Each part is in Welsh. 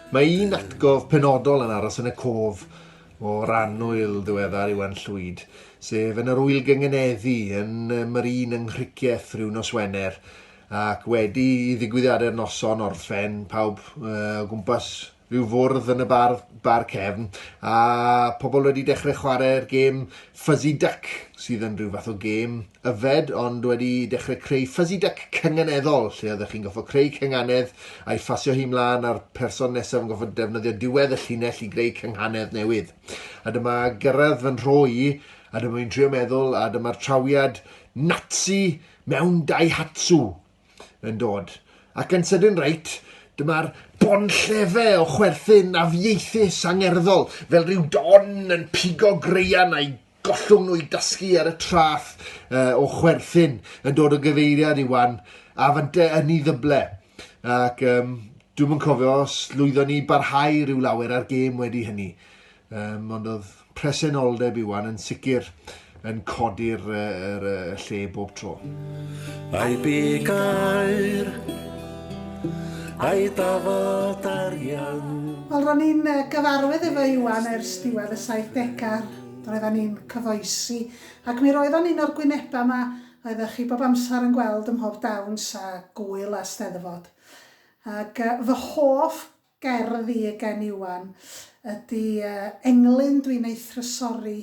Mae un atgof penodol yn aros yn y cof o'r annwyl ddiweddar Iwan Llwyd, sef yn yr wyl gyngeneddu yn Marine yng Nghricieth rhyw nos Wener, ac wedi i ddigwyddiadau'r noson orffen pawb uh, o gwmpas rhyw fwrdd yn y bar, bar cefn, a pobl wedi dechrau chwarae'r gêm Fuzzy Duck, sydd yn rhyw fath o gêm yfed, ond wedi dechrau creu Fuzzy Duck cynganeddol, lle oeddech chi'n goffa creu cynganedd a'i ffasio hi mlaen a'r person nesaf yn goffa defnyddio diwedd y llinell i greu cynghanedd newydd. A dyma gyrraedd fy nhro i, a dyma fi'n trio meddwl, a dyma'r trawiad Nazi mewn Daihatsu. yn dod. Ac yn sydyn reit, dyma'r bonllefe o chwerthin afieithus angerddol, fel rhyw don yn pigo greian a'i gollwng nhw i dasgu ar y trath uh, o chwerthin yn dod o gyfeiriad i wan, a fante yn ei ddyble. Ac um, dwi'n yn cofio os lwyddon ni barhau rhyw lawer ar gêm wedi hynny. Um, ond oedd presenoldeb Iwan yn sicr yn codi'r er, er, lle bob tro. Ai bu gair, ai dafod arian. Wel, ro'n i'n gyfarwydd efo Iwan ers diwedd y 70au. Roeddan ni'n cyfoesi, ac mi roeddan ni'n o'r gwynebau yma oeddech chi bob amser yn gweld ym mhob dawns a gwyl a steddfod. Ac fy hoff Gerdd i Eugen Iwan ydy Englyn dwi'n ei thrysori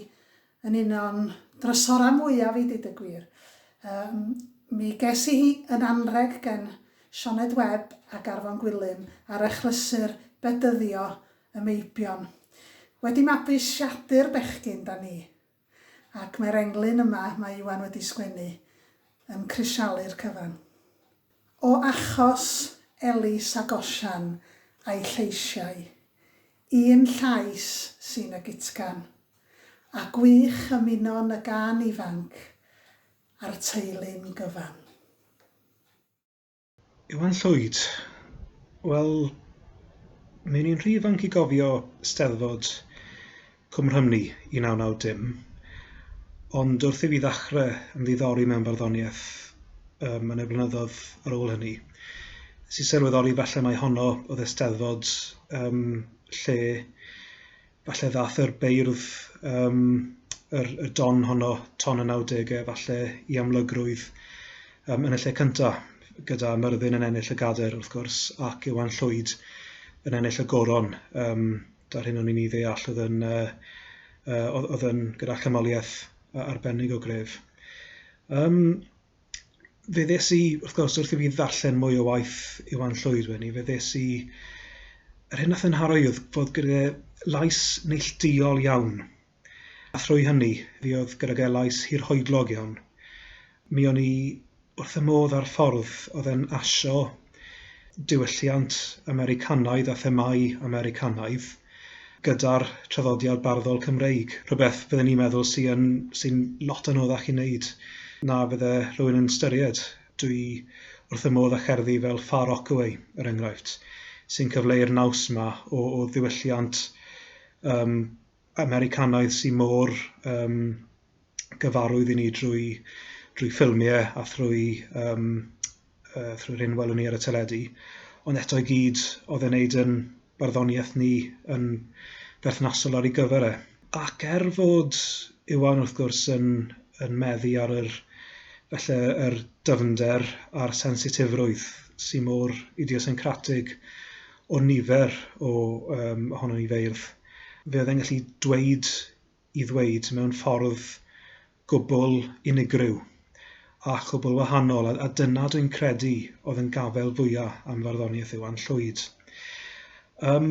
yn un o'n drysorau mwyaf i deud y gwir. Yym mi ges i hi yn anrheg gen Sioned Webb ac Arfon Gwilym ar achlysur Bedyddio y Meibion. Wedi mabwysiadu'r bechgyn 'da ni. Ac mae'r englyn yma mae Iwan wedi sgwennu yn crisialu'r cyfan. O achos Elis ac Osian a'i lleisiau, un llais sy'n y gutgan. A gwych ymunon y gân ifanc a'r teulu'n gyfan. Iwan Llwyd, Wel, mi o'n i'n rhy ifanc i gofio Steddfod Cwm Rhymni 1990, ond wrth i fi ddechrau ymddiddori mewn barddoniaeth yym yn y blynyddoedd ar ôl hynny, nes i sylweddoli falle mai honno oedd y Steddfod yym lle falle ddaeth yr beirdd, um, yr, y don honno, ton y 90au, falle i amlygrwydd um, yn y lle cyntaf, gyda Myrddin yn ennill y gader, wrth gwrs, ac Iwan Llwyd yn ennill y goron. Um, Da'r hyn o'n i'n ei ddeall oedd yn, uh, uh, oedd yn gyda chymoliaeth arbennig o gref. Um, fe ddes i, wrth gwrs, wrth i fi ddarllen mwy o waith Iwan Llwyd wedyn ni, fe ddes i... Yr hyn nath yn haro i oedd fod gyda lais neillduol iawn. A thrwy hynny, fi oedd gyda gael lais hirhoedlog iawn. Mi o'n i wrth y modd â'r ffordd oedd e'n asio diwylliant Americanaidd a themâu Americanaidd gyda'r traddodiad barddol Cymreig. Rhywbeth fydden i'n meddwl sy'n sy lot anoddach i wneud na fydde rhywun yn ystyried. Dwi wrth fy modd â cherddi fel Far Rockaway, er enghraifft, sy'n cyfleu'r naws yma o, o ddiwylliant um, Americanaidd sy mor yym gyfarwydd i ni drwy drwy ffilmiau a thrwy yym yy thrwy'r hyn welwn ni ar y teledu, ond eto i gyd oedd e'n wneud yn barddoniaeth ni yn berthnasol ar ei gyfer e. Ac er fod Iwan wrth gwrs yn yn meddu ar yr falle yr dyfnder a'r sensitifrwydd sy mor idiosyncratig o nifer o yym ohonon ni feirdd, fe oedd e'n gallu dweud i ddweud mewn ffordd gwbl unigryw a chwbl wahanol, a, a dyna dwi'n credu oedd yn gafael fwya am farddoniaeth Iwan Llwyd. Um,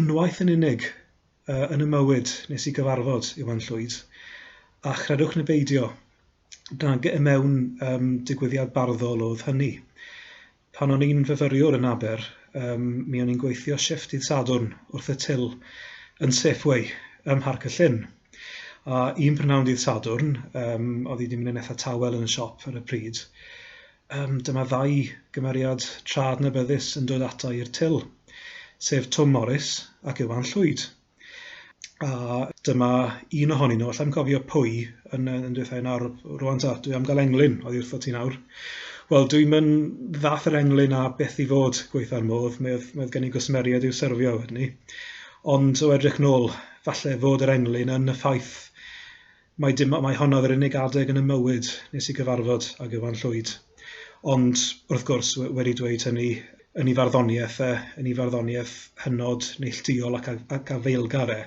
unwaith yn unig uh, yn y mywyd nes i gyfarfod Iwan Llwyd, a chredwch neu beidio, na, mewn um, digwyddiad barddol oedd hynny. Pan o'n i'n fyfyriwr yn Aber, yym, mi o'n i'n gweithio shifft dydd Sadwrn wrth y tyl yn Safeway ym Mharc y Llyn. A un prynhawn dydd Sadwrn, yym, oedd hi wedi mynd yn eitha tawel yn y siop ar y pryd, yym, dyma ddau gymeriad tra adnabyddus yn dod ata i'r tyl, sef Twm Morys ac Iwan Llwyd. A dyma un ohonyn nhw, allai'm cofio pwy, yn yy yn dweutha i nawr rŵan ta, dwi am gael englyn oddi wrtho ti nawr. Wel dwi'm yn ddath yr englyn a beth i fod gweutha'r modd, mi oedd mi oedd gen i gwsmeriaid i'w serfio wedyn 'ny. Ond o edrych nôl, falle fod yr englyn yn y ffaith Mai dim ots, mai hon oedd yr unig adeg yn 'y mywyd nes i gyfarfod ag Iwan Llwyd. Ond, wrth gwrs, wedi dweud hynny, yn 'i farddoniaeth e, yn 'i farddoniaeth hynod neillduol ac ac afaelgar e,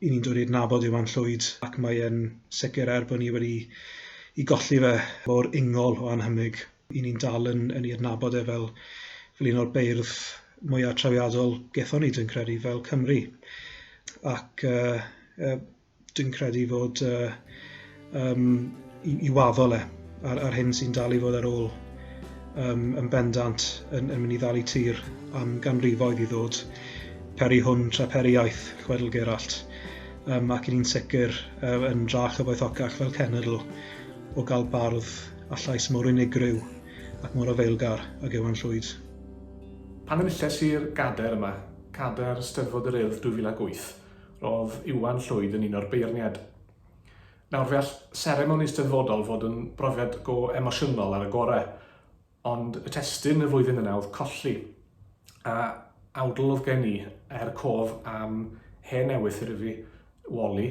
'yn ni'n dod i adnabod Iwan Llwyd ac mae e'n sicr, er bod ni wedi 'i golli fe mor ingol o annhymig, 'yn ni'n dal yn yn 'i adnabod e fel fel un o'r beirdd mwya' trawiadol gethon ni, dwi'n credu, fel Cymry. Ac yy yy dwi'n credu fod uh, um, i, i waddol e ar, ar hyn sy'n dal i fod ar ôl um, yn bendant yn, yn mynd i ddal i tir am ganrifoedd i ddod peri hwn tra peri iaith chwedl Geralt um, ac yn un sicr um, yn dra chyfoethocach fel cenedl o gael bardd a llais mor unigryw ac mor afeilgar ag Ewan Llwyd. Pan enilles i'r gader yma, cader Steddfod yr Urdd 2008, Roedd Iwan Llwyd yn un o'r beirniaid. Nawr, fe all seremoni Steddfodol fod yn brofiad go emosiynol ar y gorau, ond y testun y flwyddyn yna oedd colli, a awdl oedd gen i er cof am hen ewythr i fi, Wally,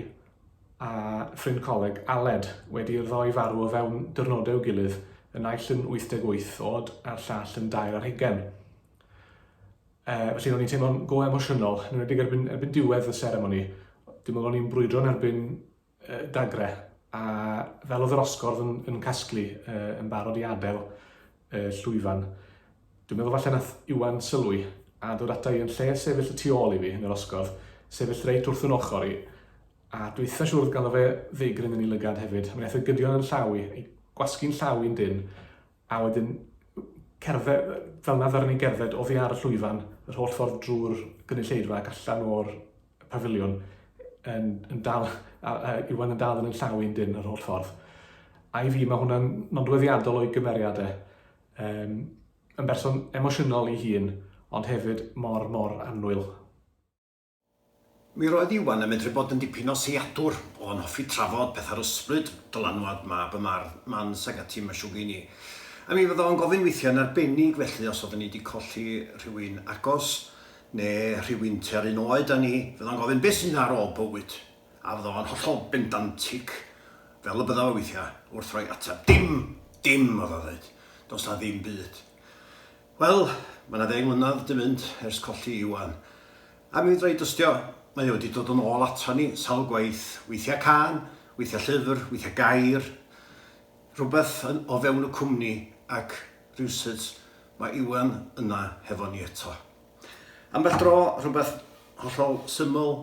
a ffrind coleg, Aled, wedi i'r ddoi farw o fewn diwrnodau i'w gilydd, y naill yn 88 oed a'r llall yn dair ar hugain. Yy, felly ro'n i'n teimlo'n go emosiynol, yn enwedig erbyn, erbyn diwedd y seremoni. Dwi'n meddwl o'n i'n brwydro yn erbyn uh, dagre, a fel oedd yr osgordd yn, yn casglu, uh, yn barod i adael uh, llwyfan. Dwi'n meddwl falle nath Iwan sylwi a dod ata i yn lle sefyll y tu ôl i fi yn yr osgordd, sefyll reit wrth yn ochr i, a dwi'n eitha siwr gael fe ddeigryn yn ei lygad hefyd. Mae'n eitha gydio yn llaw i, ei gwasgu'n llaw i'n dyn, A wedyn cerdded, fel 'na ddaru ni gerdded oddi ar y llwyfan, yr holl ffordd drwy'r gynulleidfa ac allan o'r pafiliwn, yn, yn dal, a, a Iwan yn dal yn yn llaw i'n dyn yr holl ffordd. A i fi mae hwnna'n nodweddiadol o'i gymeriad e. Um, yn berson emosiynol i hun, ond hefyd mor, mor annwyl. Mi roedd Iwan yn medru bod yn dipyn o seiadwr, oedd o'n hoffi trafod pethau'r ysbryd, dylanwad mab y mardd, Mans ag ati, mae siŵr gen i. A mi fydda o'n gofyn weithiau yn arbennig felly os oedden ni wedi colli rhywun agos, neu rhywun tua'r un oed â ni, fydda o'n gofyn beth sydd ar ôl bywyd? A fydda o'n hollol bendantig, fel y bydda fo weithiau, wrth roi ateb, Dim! Dim! oedd o'n ddeud. Does 'na ddim byd. Wel, mae 'na ddeng mlynedd 'di mynd ers colli Iwan. A mi fedra i dystio, mae o 'di dod yn ôl aton ni sawl gwaith, weithiau cân, weithiau llyfr, weithiau gair, rhywbeth yn o fewn y cwmni ac rywsut mae Iwan yna hefo ni eto. Ambell dro rhywbeth hollol syml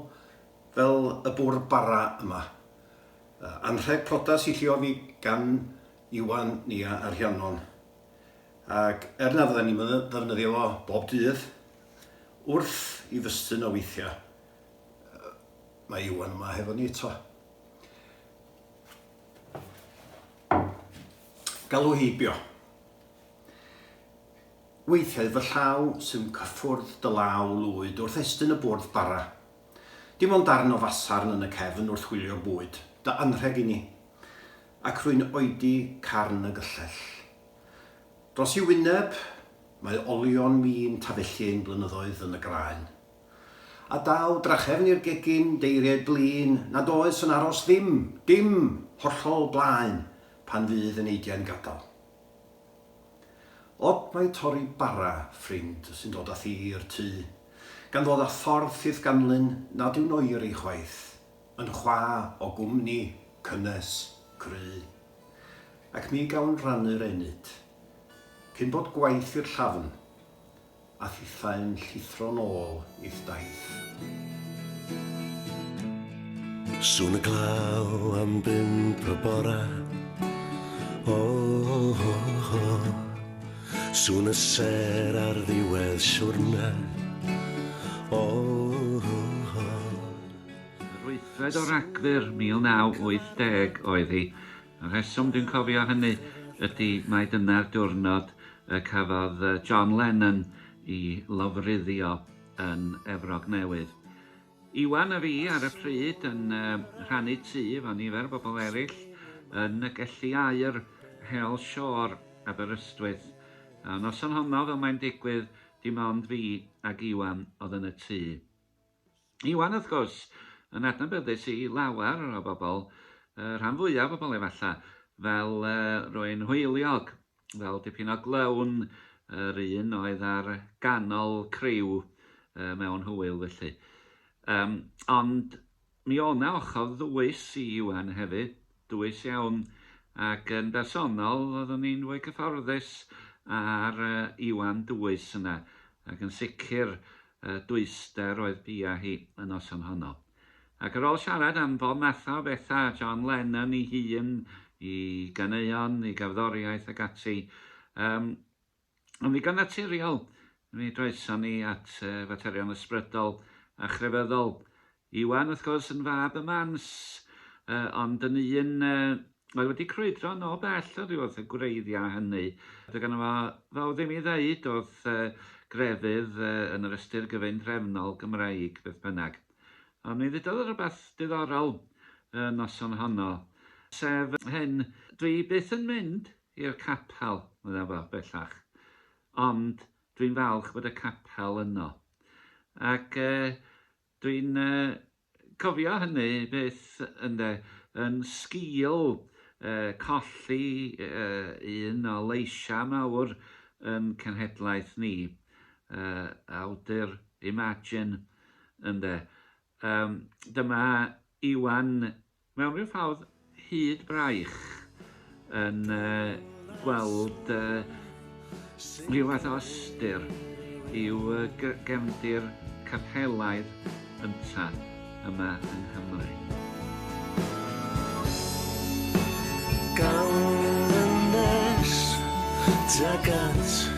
fel y bwrdd bara yma. Anrheg prodas i lliofi gan Iwan Nia a Rhiannon. Ac er na fydden ni'm yn ddefnyddio fo bob dydd, wrth i fy stun o weithiau, mae Iwan yma hefo ni eto. Galw heibio. Weithiau fy llaw sy'n cyffwrdd dy law lwyd wrth estyn y bwrdd bara. Dim ond darn o fasarn yn y cefn wrth wylio bwyd, dy anrheg i ni. Ac rwy'n oedi carn y gyllell. Dros ei wyneb, mae olion min tafellu ein blynyddoedd yn y graen. A daw drachefn i'r gegin, deiriau blin, nad oes yn aros ddim, dim, hollol blaen, pan fydd yn eidiau'n gadael. Od mae torri bara ffrind sy'n dod â thi i'r tŷ, gan ddod â thorf ffydd ganlyn nad yw'n oeri chwaith, yn chwa o gwmni cynnes, cry, ac mi gawn rannu'r enyd, cyn bod gwaith i'r llafn, a thithau'n llithro nôl i'th daith. Swn y glaw am bump y bora oh, oh, oh, oh. Swn y ser ar ddiwedd siwrna oh, oh, oh. Yr wythfed o Ragfyr 1980 oedd hi. Y rheswm dwi'n cofio hynny ydy mai dyna'r diwrnod y cafodd John Lennon i lofruddio yn Efrog Newydd. Iwan a fi ar y pryd yn rhannu tŷ efo nifer o bobl eraill yn y Gelli Aur, Hell Shore, Aberystwyth. Y noson honno, fel mae'n digwydd, dim ond fi ac Iwan oedd yn y tŷ. Iwan, wrth gwrs, yn adnabyddus i lawer o bobl, y rhan fwyaf o bobl efalla, fel rwy'n hwyliog, fel dipyn o glown, yr un oedd ar ganol criw mewn hwyl felly. Ond mi o'na ochr ddwys i Iwan hefyd. Dwys iawn, ac yn bersonol oeddwn i'n fwy cyfforddus â'r Iwan dwys yna, ac yn sicr y dwyster oedd bia hi y noson honno. Ac ar ôl siarad am bob matha o betha, John Lennon i hun, i ganeuon, i gerddoriaeth ac ati, yym, Yn ddigon naturiol, mi droesom ni at faterion ysbrydol a chrefyddol. Iwan, wrth gwrs, yn fab y Mans, ond yn un oedd wedi crwydro nôl bell oddi wrth y gwreiddiau hynny. Doedd ganddo fo fawr ddim i ddeud wrth grefydd yn yr ystyr gyfundrefnol Gymreig, beth bynnag. Ond mi ddudodd o rywbeth diddorol y noson honno, sef hyn, 'Dwi byth yn mynd I'r capel, medda fo, bellach. Ond dwi'n falch bod y capel yno. Ac e, dwi'n e, cofio hynny byth, ynde, yn sgil e, colli e, un o leisiau mawr yn cenhedlaeth ni, e, awdur Imagine, ynde. E, dyma Iwan Mewn rhyw ffordd hyd braich yn gweld rhyw fath o ystyr i'w gefndir capelaidd ynta yma yng Nghymru. Gan ddynes tuag at